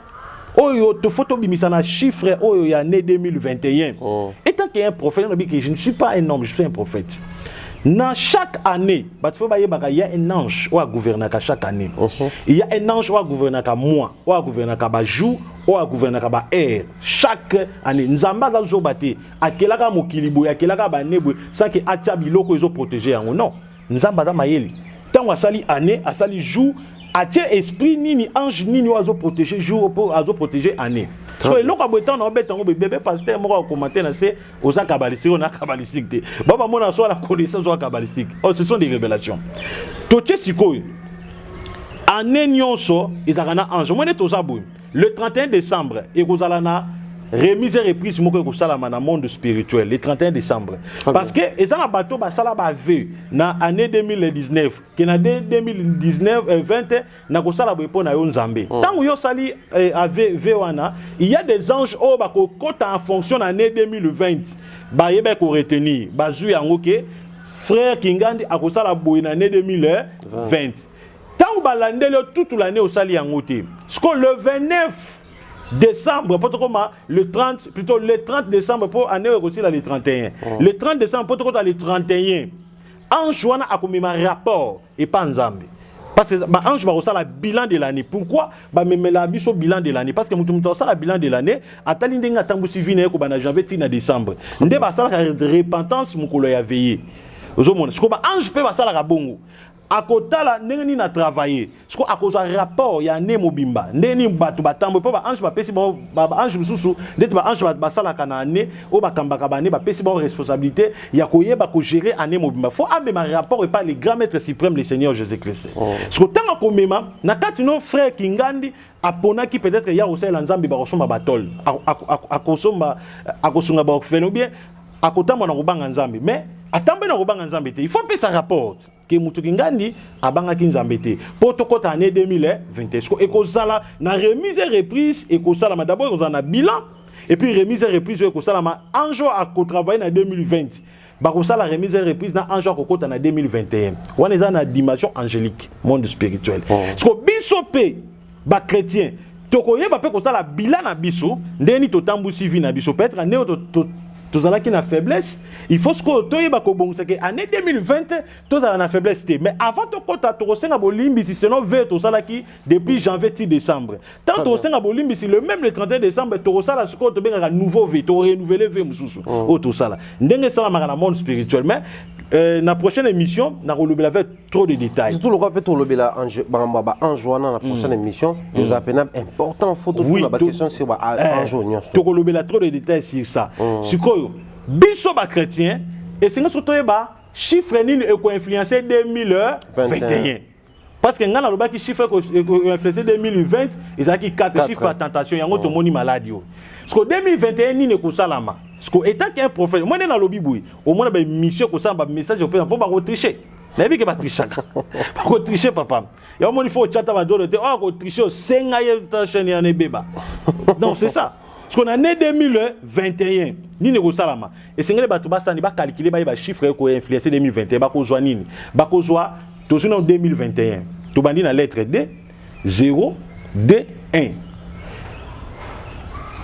oyo tofo tobimisa na chiffre oyo ya année 2021 oh. étant que un prophète olobi que je ne suis pas un homme je suis un prophète na chaque année bato fo bayebaka ya un ange oyo agouvernaka chaque année uh -huh. ya un ange oyo agouvernaka mois oyo agouvernaka bajour oyo agouvernaka baheure chaque année nzambe aza zoba te akelaka mokili boye akelaka bane boye sake atia biloko ezo protege yango non nzambe aza mayele ntango asali année asali jour atie esprit nini ange nini oyo azo protege jour mpo azo protege année so eloko ya boye ntango naobeta yango bebe pasteur moko akomante na se oza kabalistique oyo na kabalistique te bao bamona so na connaissance oyo kabalistique oh, ce sont des révélations totie sikoyo année nyonso ezalaka na ange omoni ete oza boye Le 31 décembre, ekozala na remise et reprise moko ekosalama na monde spirituel le 31 décembre ah parce que eza na bato basala baveu na année 2019 ke na 2019 euh, 20 nakosala boye mpo na yo nzambe ntango oh. yo osali euh, avv wana il y a des anges oyo bakokota en fonction na année 2020 bayebaki koretenir bazwi yango ke frère kingandi akosala boye na année 2020 ntango balandeli yo toute l'année osali yango te sikoyo le 29 décembre mpo tokoma le 30 plutôt le 30 décembre mpo année oyo ekosila le 31 oh. le 30 décembre mpo tokota le 31 ange wana akomema rapport epa nzambe parce que baange bakosala bilan de l'année pourquoi bamemela biso bilan de l'année parce que moto moto asala bilan de l'année atali ndenge atambwisi vi na ye kobanda janvier ti na décembre nde basalaka repentance mokolo ya veye ozomona sikoyo baange mpe basalaka bongo akotala ndenge nini na travailler siko akozwa rapport ya année mobimba ndenge nini bato batambwe mpo baange bapesi bango baange mosusu ndeti baange basalaka na année oyo bakambaka baannée bapesi bango responsabilité ya koyeba kogere année mobimba fo amema rapport epai le grand maître suprême le seigneur jésus christ oh. siko ntango akomema na kati no frère kingandi aponaki peut-être ya kosalela nzambe bakosomba batole akosomba akosunga baorphelin ou bien akotambwa na kobanga nzambe mais atambwe na kobanga nzambe te il faut apesa rapport ke moto kingandi abangaki nzambe te mpo tokɔta année 2020 ekozala na remise et reprise ekosalama d'abord ekozala na bilan et puis remise et reprise oyo ekosalama ange oyo akotravaille na 2020 bakosala remise et reprise na ange akokɔta na 2021 wana eza na dimension angélique monde spirituel oh. siko biso mpe ba chrétiens tokoyeba mpe kosala bila na biso ndenge nini totambwisi vie na biso peut-être ndenge to, to, tozalaki na faiblesse il faut sikoyo toyeba kobongisa ke année 2020 tozala na faiblesse te mais avant tokɔta tokosenga bolimbisi selon ve tosalaki depuis janvier ti décembre ntango tokosenga bolimbisi le même le 31 décembre tokosala sikoyo tobengaka nouveau ve torenouvele ve mosusu mm. oyo tosala ndenge esalamaka na monde spirituel mais euh, na prochaine émission nakolobela ve trop de détails surtout lokola mpe tolobela makambo ya baange wana na prochaine mm. émission eza mm. mpena important fo totuna baquestion sur baange eh, oyo nyonso tokolobela trop de détails sur ça mm. sikoyo biso bachrétien esengi soki toyeba chiffre nini ekoinfluence 2021 parce que ngai nalobaki chiffre ekoinfluence 2020 ezalaki 4 chiffre ya tentation yango tomoni maladi oyo siko 2021 nini ekosalama siko etaki un prophète moi nde nalobi boye omona baémission ekosalama bamessage opesa mpo bakotriche nayebi ke batrichaka bakotriche papa ya omoni fo ochata badolo te oyo akotriche osenga ye ta chaîne yana ebeba donc c'est ça siko na ne 2021 nini ekosalama esengeli bato basani bakalkile bayeba chiffre ekoinfluence 2021 bakozwa nini bakozwa tozwi nano 2021 tobandi na lettre d 0 d 1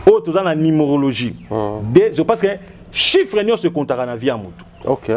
oyo toza na numérologie ah. d parce que chiffre nyonso ekontaka na vie ya motu okay.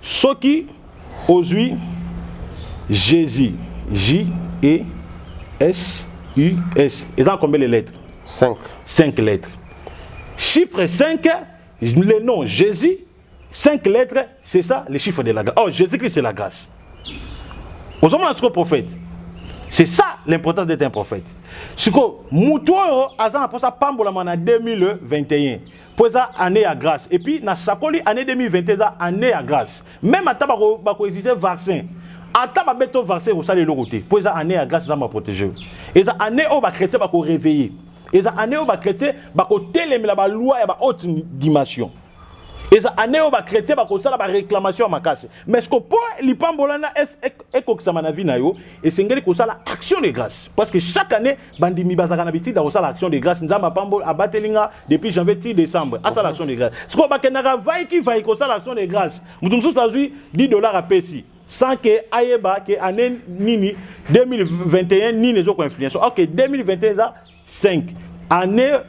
soki ozwi jesus j e s u s eza combien les lettres 5 5 lettres chiffre 5 le nom jésus 5 lettres c'est ça le chiffre de la grâce oh jésus christ c'est la grâce ozomona sikoyo prophète c'est ça l'importance d'être un prophète sikoyo moto oyo aza na mposa apambolama na 2021 mpo eza année ya grâce et puis nasakoli année 2020 eza année ya grâce meme ata bakoexige bako vaccin ata babe to vaccin ekosala eloko te mpo eza année ya grâce nzambe aprotege yo eza année oyo bachrétien bakoreveille eza année oyo bachrétien bakotelemela balwa ya bahaute dimension eza année oyo bachrétien bakosala baréclamation ya makasi mais ceque mpo lipambola na ekokisama na vie na yo esengeli kosala action de grâce parce que chaque année bandimi bazalaka na bitida kosala action de grâce nzambe apambo abateli nga depuis janvier ti décembre asala action de grâce sikoyo bakendaka vai ki vai kosala action de grâce moto mosusu azwi 10 dollar apesi sans que ayeba ke année nini 2021 nini ezokoinfluence ok 2021 eza 5 année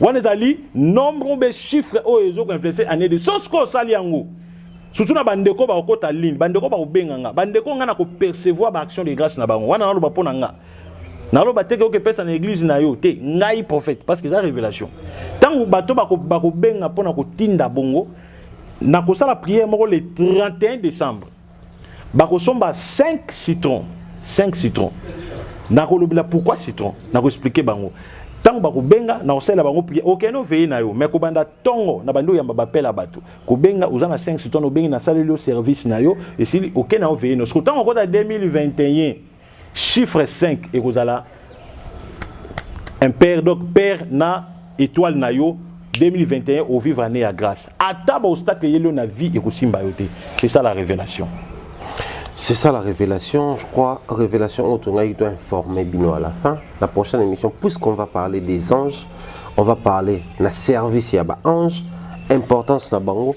wana ezali nombre mpe chiffre oyo ezoki influence année de sosi koyo osali yango surtout na bandeko bakokota ligne bandeko bakobenga nga bandeko nga na kopercevoir baaction de grâce na bango wana naloba mpo na nga naloba te oke pesa na eglise na yo te ngai prophète parce que eza révélation ntango bato bakobenga mpo na kotinda bongo nakosala prière moko le 31 décembre bakosomba 5 citron 5 citron nakolobela pourquoi citron nakoexplike bango ntango bakobenga na kosalela bango prie okende okay, oveye na yo me kobanda ntongo na bandi oyamba bapela bato kobenga oza na 5 citron obengi nasaleli yo service na yo esili okende okay, na oveye na yo siko ntango okota 2021 Chiffre 5 ekozala impair donc père na étoile na yo 2021 au vivre année ya grâce ata baobstacle eyeli yo na vie ekosimba yo te c'est ça la révélation c'est ça la révélation je crois révélation oyo tongaki to informer bino à la fin la prochaine émission puisqu'on va parler des anges on va parler na service ya baange importance na bango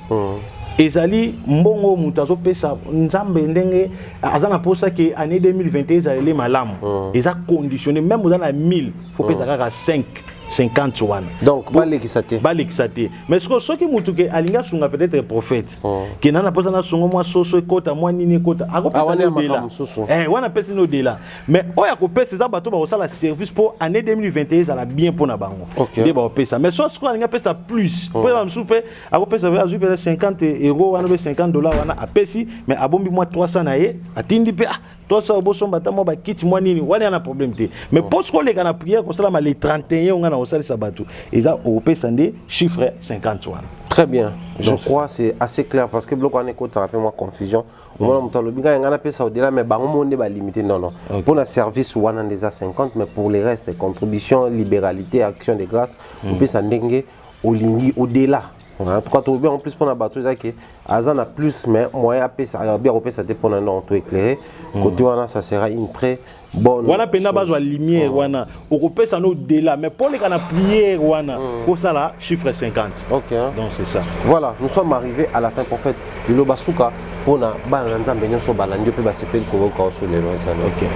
ezali mbongo moto azopesa nzambe ndenge aza na mposa ke année 2021 ezaleli malamu hmm. eza conditionne meme oza na 1000 fo pesa hmm. kaka 5 50 wana donc balekisa te balekisa te mais sikoyo soki motu ke alingi asunga peut-être prophète oh. ke na na mposa nasungo mwa soso ekota mwa nini ekota akopesodela ah, eh, wana apesi no odela mais oyo akopesa eza bato bakosala service mpo année 2021 ezala bien mpo na bango nde bakopesa mais so sikoyo alingi apesa plus mpo oh. eza mosusu mpe akopesa azwi mpeza 50 euro wana mpe 50 dollar wana apesi mais abombi mwa 300 na ye atindi mpe ah, 300 obosomba ata mwa bakiti mwa nini wana yana problème te mais mpo soki oleka na prière kosalama le 31 onga na kosalisa bato eza okopesa nde chiffre 50 wana très bien je Donc, crois c'est assez clair parce que biloko wana ekotisaka mpe mwa confusion omona moto alobi ngai ngai napesa odela mais bango moko nde balimite non non mpo na service wana nde eza 50 mais pour le reste contribution libéralité action de grâce opesa ndenge olingi au delà en tout cas tolobi en plus mpona bato eza ke aza na plus mais moyen apesa alobi akopesa te mpona non to éclairé hmm. côté wana ça sera une très bonne wana mpenza bazwa lumière hmm. wana okopesa no dela mais mpo oleka na prière wana hmm. kosala chiffre 50 ok donc c'est ça voilà nous sommes arrivés à la fin prophète liloba suka mpona bana na nzambe nyonso balandi yo mpe basepeli koyoka oso lelo ezali ok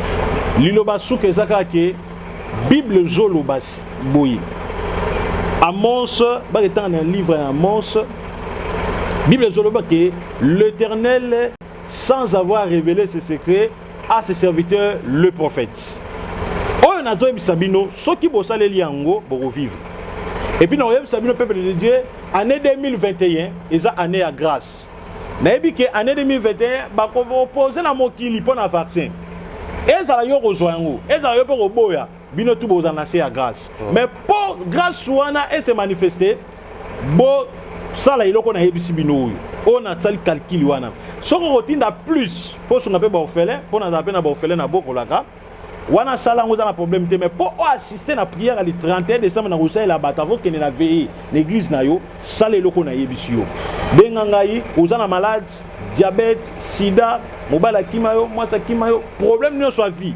liloba suka eza kaka ke bible ezoloba boye amos baketanga na livre ya amos bible ezoloba ke l'éternel sans avoir révélé ses secrets à ses serviteurs le prophète oyo nazoyebisa bino soki bosaleli yango bokovivre epuis nakoyebisa bino peuple de dieu année 2021 eza année ya grâce nayebi ke année 2021 bakoopose na mokili mpo na vaccin ezala yo kozwa yango ezala yo mpe koboya bino tu boza na se ya grâce oh. mais po grâce wana e se manifeste bo sala eloko nayebisi bino oyo oyo nasali calcul wana soki okotinda plus mpo osunga mpe baofele mpo nazala mpe na baofele nabokolaka wana asala yango eza na problème te mais mpo oassiste na prière ya le 31 décembre na kosalela bato avokende na veille na église na yo sala eloko nayebisi yo benga ngai oza na malade diabète sida mobali akima yo mwasi akima yo problème nyonso ya vie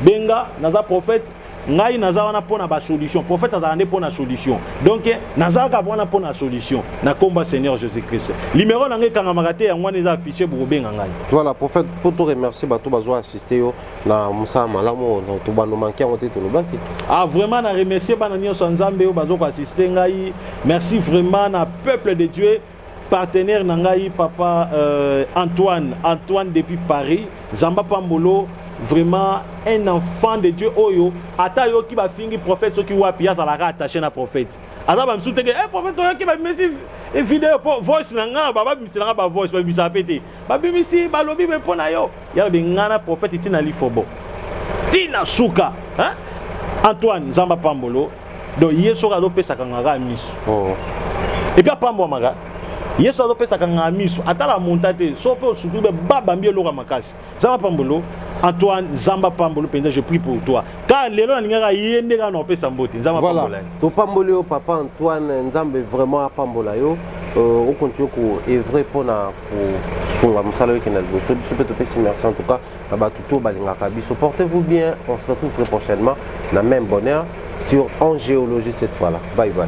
benga naza prophète ngai naza wana mpo na basolution prophète azalaka nde mpo na solution donc nazalaka wana mpo na solution na nkombo ya seigneur jésus christ limero na ngai ekangamaka te yango wana eza affiche bokobenga ngai voilà prophète mpo to remercier bato bazwa assiste yo na mosala malamu oyo donc tobando manke yango te tolobaki ah vraiment na remercier bana nyonso ya nzambe oyo bazo koassiste ngai merci vraiment na peuple de dieu partenaire na ngai papa euh, antoine antoine depuis paris zamba pambolo vraiment un enfant de dieu oyo ata ayoki bafingi prophète soki wapi azalaka attaché na prophète aza bamisu teke e eh, prophète oyoki bamesi video mpo voice na ngai bababimisela ngai bavoice babimisaka mpe te babimisi balobi be mpo na yo ya lobi ngai na profete ntina lifobo ntina suka hein? antoine nzambe apambolo donc ye soki azopesaka nga kaka miso oh. epuis apambwamaka yesu azopesaka nga miso atala monta te so mpe osutu be babambi eloka makasi nzambe apambolo antoine nzambe apambolo mpenza je prie pour toi kaka lelo nalingaka ye nde kaka na opesa mbote nzambe apambola voilà. topamboli yo papa antoine nzambe vraiment apambola yo euh, okontinue koevre mpo na kosunga mosala oyo ekenda liboso biso mpe topesi merci en tout cas na bato to balingaka biso portez vous bien on se retrouve très prochainement na même bonheur sur en géologie cette fois là bye bye